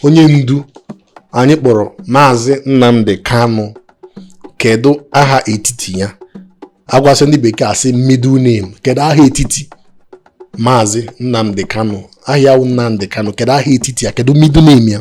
onye ndu anyị kpọrọ maazị Nnamdi Kanu kedu aha etiti ya agwasị ndị bekee a sị middle name kedu aha etiti maazị Nnamdi Kanu aha ya Nnamdi Kanu kedu aha etiti ya kedu middle name ya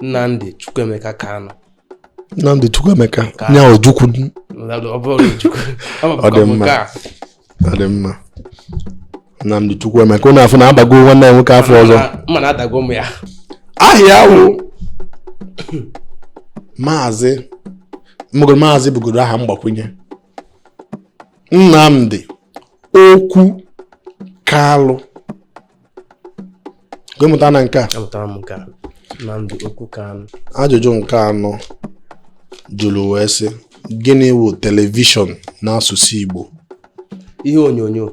Nnamdi Chukwuemeka Kanu Nnamdi Chukwuemeka nya Ojukwu ọ dị mma ọ dị mma Nnamdi Chukwuemeka ụnụ afụ na a bago nwanne ya nwoke afa ọzọ aha ya wụ maazị mgbe maazị bụgodu aha mgbakwunye Nnamdi Okwu Kalụ gị amụtana nke a amụtara m nke a Nnamdi Okwu Kanu ajụjụ nke anọ jụrụ wee sị gịnị wụ telivishọn n'asụsụ Igbo ihe onyonyo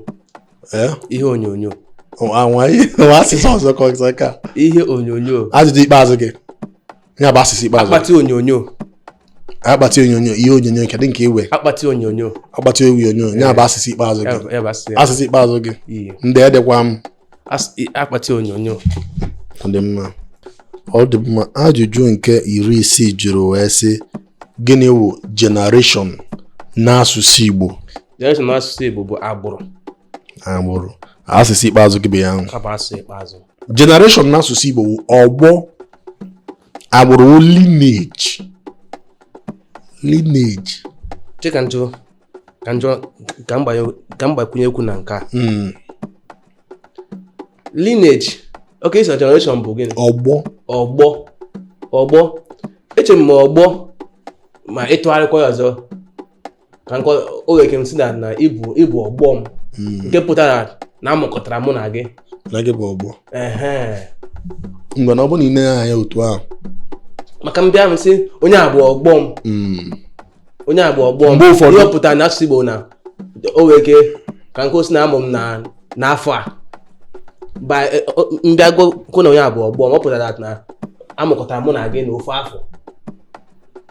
ee ihe onyonyo anwa ihe asụsụ ọzọ ka ọzọ ka ihe onyonyo ajụjụ ikpeazụ gị ya bụ asịsa ikpeazụ akpati onyonyo akpati onyonyo ihe onyonyo kedụ nke i we akpati onyonyo akpati onyonyo ya bụ asịsa ikpeazụ gị asịsa ikpeazụ gị ndị edekwa m akpati onyonyo ọ dị mma ọ dị mma ajụjụ nke iri isii jụrụ wee sị gịnị wụ generation n'asụsụ Igbo generation n'asụsụ Igbo bụ agbụrụ agbụrụ asịsa ikpeazụ gị bụ ya ahụ generation na asụsụ Igbo wụ ọgbọ agbụrụ wụ lineage lineage chee ka m jụọ ka m jụọ ka m gbakwunye okwu na nke a hmm. lineage okay ị sị na generation bụ gịnị ọgbọ ọgbọ ọgbọ eche m ọgbọ ma ịtụgharịkwa ya ọzọ ka nke oge ke m sị na na ị bụ ị bụ ọgbọ m hmm. nke pụtara na a mụkọtara mụ na gị na gị bụ ọgbọ mgbe na ọ bụ na ị na anya otu ahụ maka m bịa m sị onye a bụ ọgbọ m hmm. onye a bụ ọgbọ m ihe ọ pụtara na asụsụ Igbo na oge ke ka nke ọ sị na a mụ m n'afọ a e, m bịa kwuo na onye a bụ ọgbọ m ọ pụtara na a mụkọtara mụ na gị na ofu afọ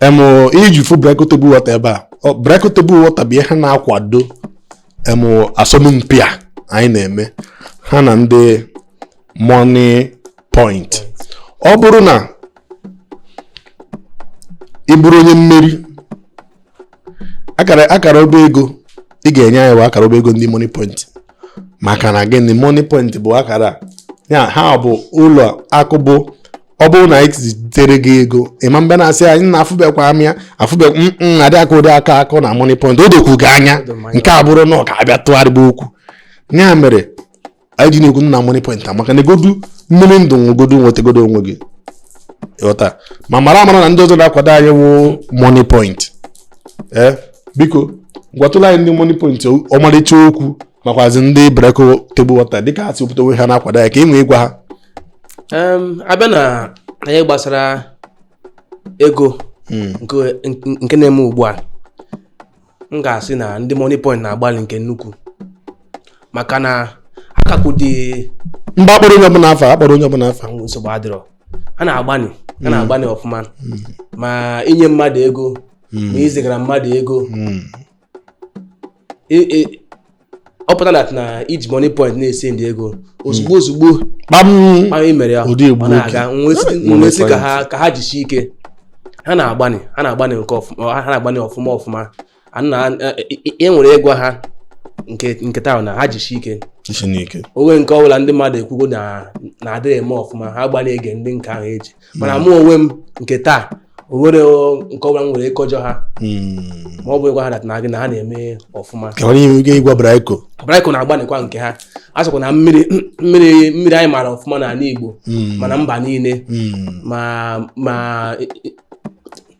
em ihe i ji fụ Breko table water ebe a Ọ- Breko table water bụ ihe na-akwado em asọmpi a anyị na-eme ha na ndị Moniepoint ọ bụrụ na ị bụrụ onye mmeri akara akara ọba ego ị ga-enye anyị bụ akara ọba ego ndị Moniepoint maka na gịnị Moniepoint bụ akara a. ya ha bụ ụlọ akụ bụ ọ bụrụ na anyị zitere gị ego ịma mbe na-asị anyị na afụbekwa m ya afụbekwa m mm, mm, adị akọ ụdị akụkọ na Moniepoint o dokwu gị anya nke a bụrụ na ọ ga-abịa tụgharịba okwu ya mere anyị ji na-ekwu na Moniepoint amaka ṅụọgodu mmiri ndụ nwegodu nwetagodu onwe gị ị ghọta ma mara amara na ndị ọzọ na-akwado anyị wụ Moniepoint ee eh, biko gwatụla anyị ndị Moniepoint ọmarịcha okwu makwazi ndị Braiko table water dịka ha si wepụta onwe ha na-akwado ya ka ị nwee ịgwa ha a bịa n'ihe gbasara ego hmm. nke na-eme ugbu a m ga-asị na ndị Moniepoint na-agbalị nke nnukwu maka na akakụ dị mbe akpọrọ onye ọbụla afa akpọrọ onye ọbụla afa nsogbu adịrọ ha na-agbanị ha na-agbanị hmm. ọfụma hmm. ma i nye mmadụ ego ma i zigara mmadụ ego ọ pụta na na i ji Moniepoint na-esendị ego ozugbo hmm. ozugbo kpam i mere ya ọ na-aga m wee sị ka ha ka ha jisie ike ha na-agbanị ha na-agbanị nke ọfụma ha na-agbanị ọfụma ọfụma ihe m nwere ịgwa ha nke nke taa na ha jisie ike o nwee nke ọbụla ndị mmadụ ekwugo na ha adịrọ eme ọfụma ha gbanị ege ntị nke ahụ eji mana mụ onwe m nke taa o nwere nke ọbụla m nwere ịkọjọ ha hmm. ma ọ bụ ịgwa ha that na gị na ha na-eme ọfụma ịgwa Braiko Braiko na-agbanịkwa nke ha a sịkwa na mmiri mmiri mmiri anyị maara ọfụma n'anị Igbo hmm. ma na mba niile hmm. ma ma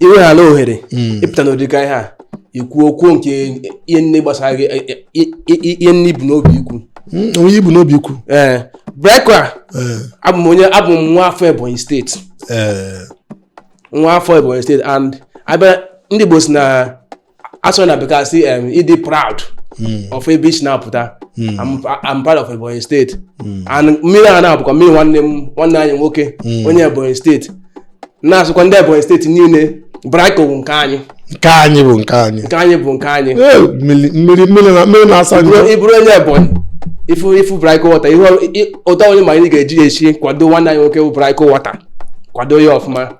i weghara ohere hmm. ịpụta n'ụdị ka ihe a ikwu okwu nke ihe niine gbasara gị e, e, e, ihe niine i bu n'obi ikwu hmm, onye i bu n'obi ikwu ee Braiko eh. abụ m onye abụ m nwa afọ ebonyi steeti eh. nwa afọ ebonyi steeti and a bịa ndị Igbo sị na asụ na bekee sị em, ịdị proud of ebe i si na-apụta I'm, I'm proud of Ebonyi steeti and mmiri a na-abụkwa mmiri nwanne m nwanne anyị nwoke onye Ebonyi steeti na-asịkwa ndị Ebonyi steeti niile Braiko bụ nke anyị nke anyị bụ nke anyị nke anyị bụ nke anyị Ee, mmiri mmiri mmiri na- mmiri na-asa njọ Bụrụ- ị bụrụ onye Ebonyi ị fụ ị fụ Braiko water ihe ọ- i- ụtọ onye ma anyị ga-eji ya esi kwado nwanne anyị nwoke bụ Braiko water kwado ya ọfụma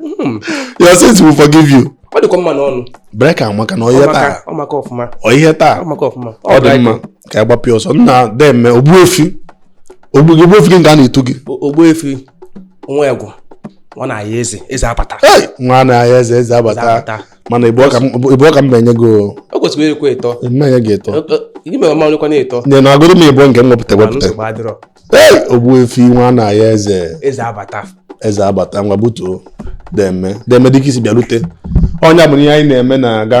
Hmm. your sins will forgive you ọ dịkwa mma n'ọnụ Braiko amaka na ọhịa taa ọ maka ọfụma ọhịa taa ọ maka ọfụma ọ dị mma ka ị gbapịa ọsọ nna deme ogbuefi ogbuefi gị nke a na-etu gị ogbuefi nwa egwu nwa na ya eze eze abata nwa na ya eze eze abata mana ịbụ ọka mba enye gị o kwesịrị ekwe ịtọ mma enye gị ịtọ ime ọma onye kwa na-eto na-agụrụ m ịbụ nke m wepụta wepụta ogbuefi nwa na ya eze eze abata ngwa butuo deeme deeme dịka i si bịarute onye bụ ihe anyị na-eme na-aga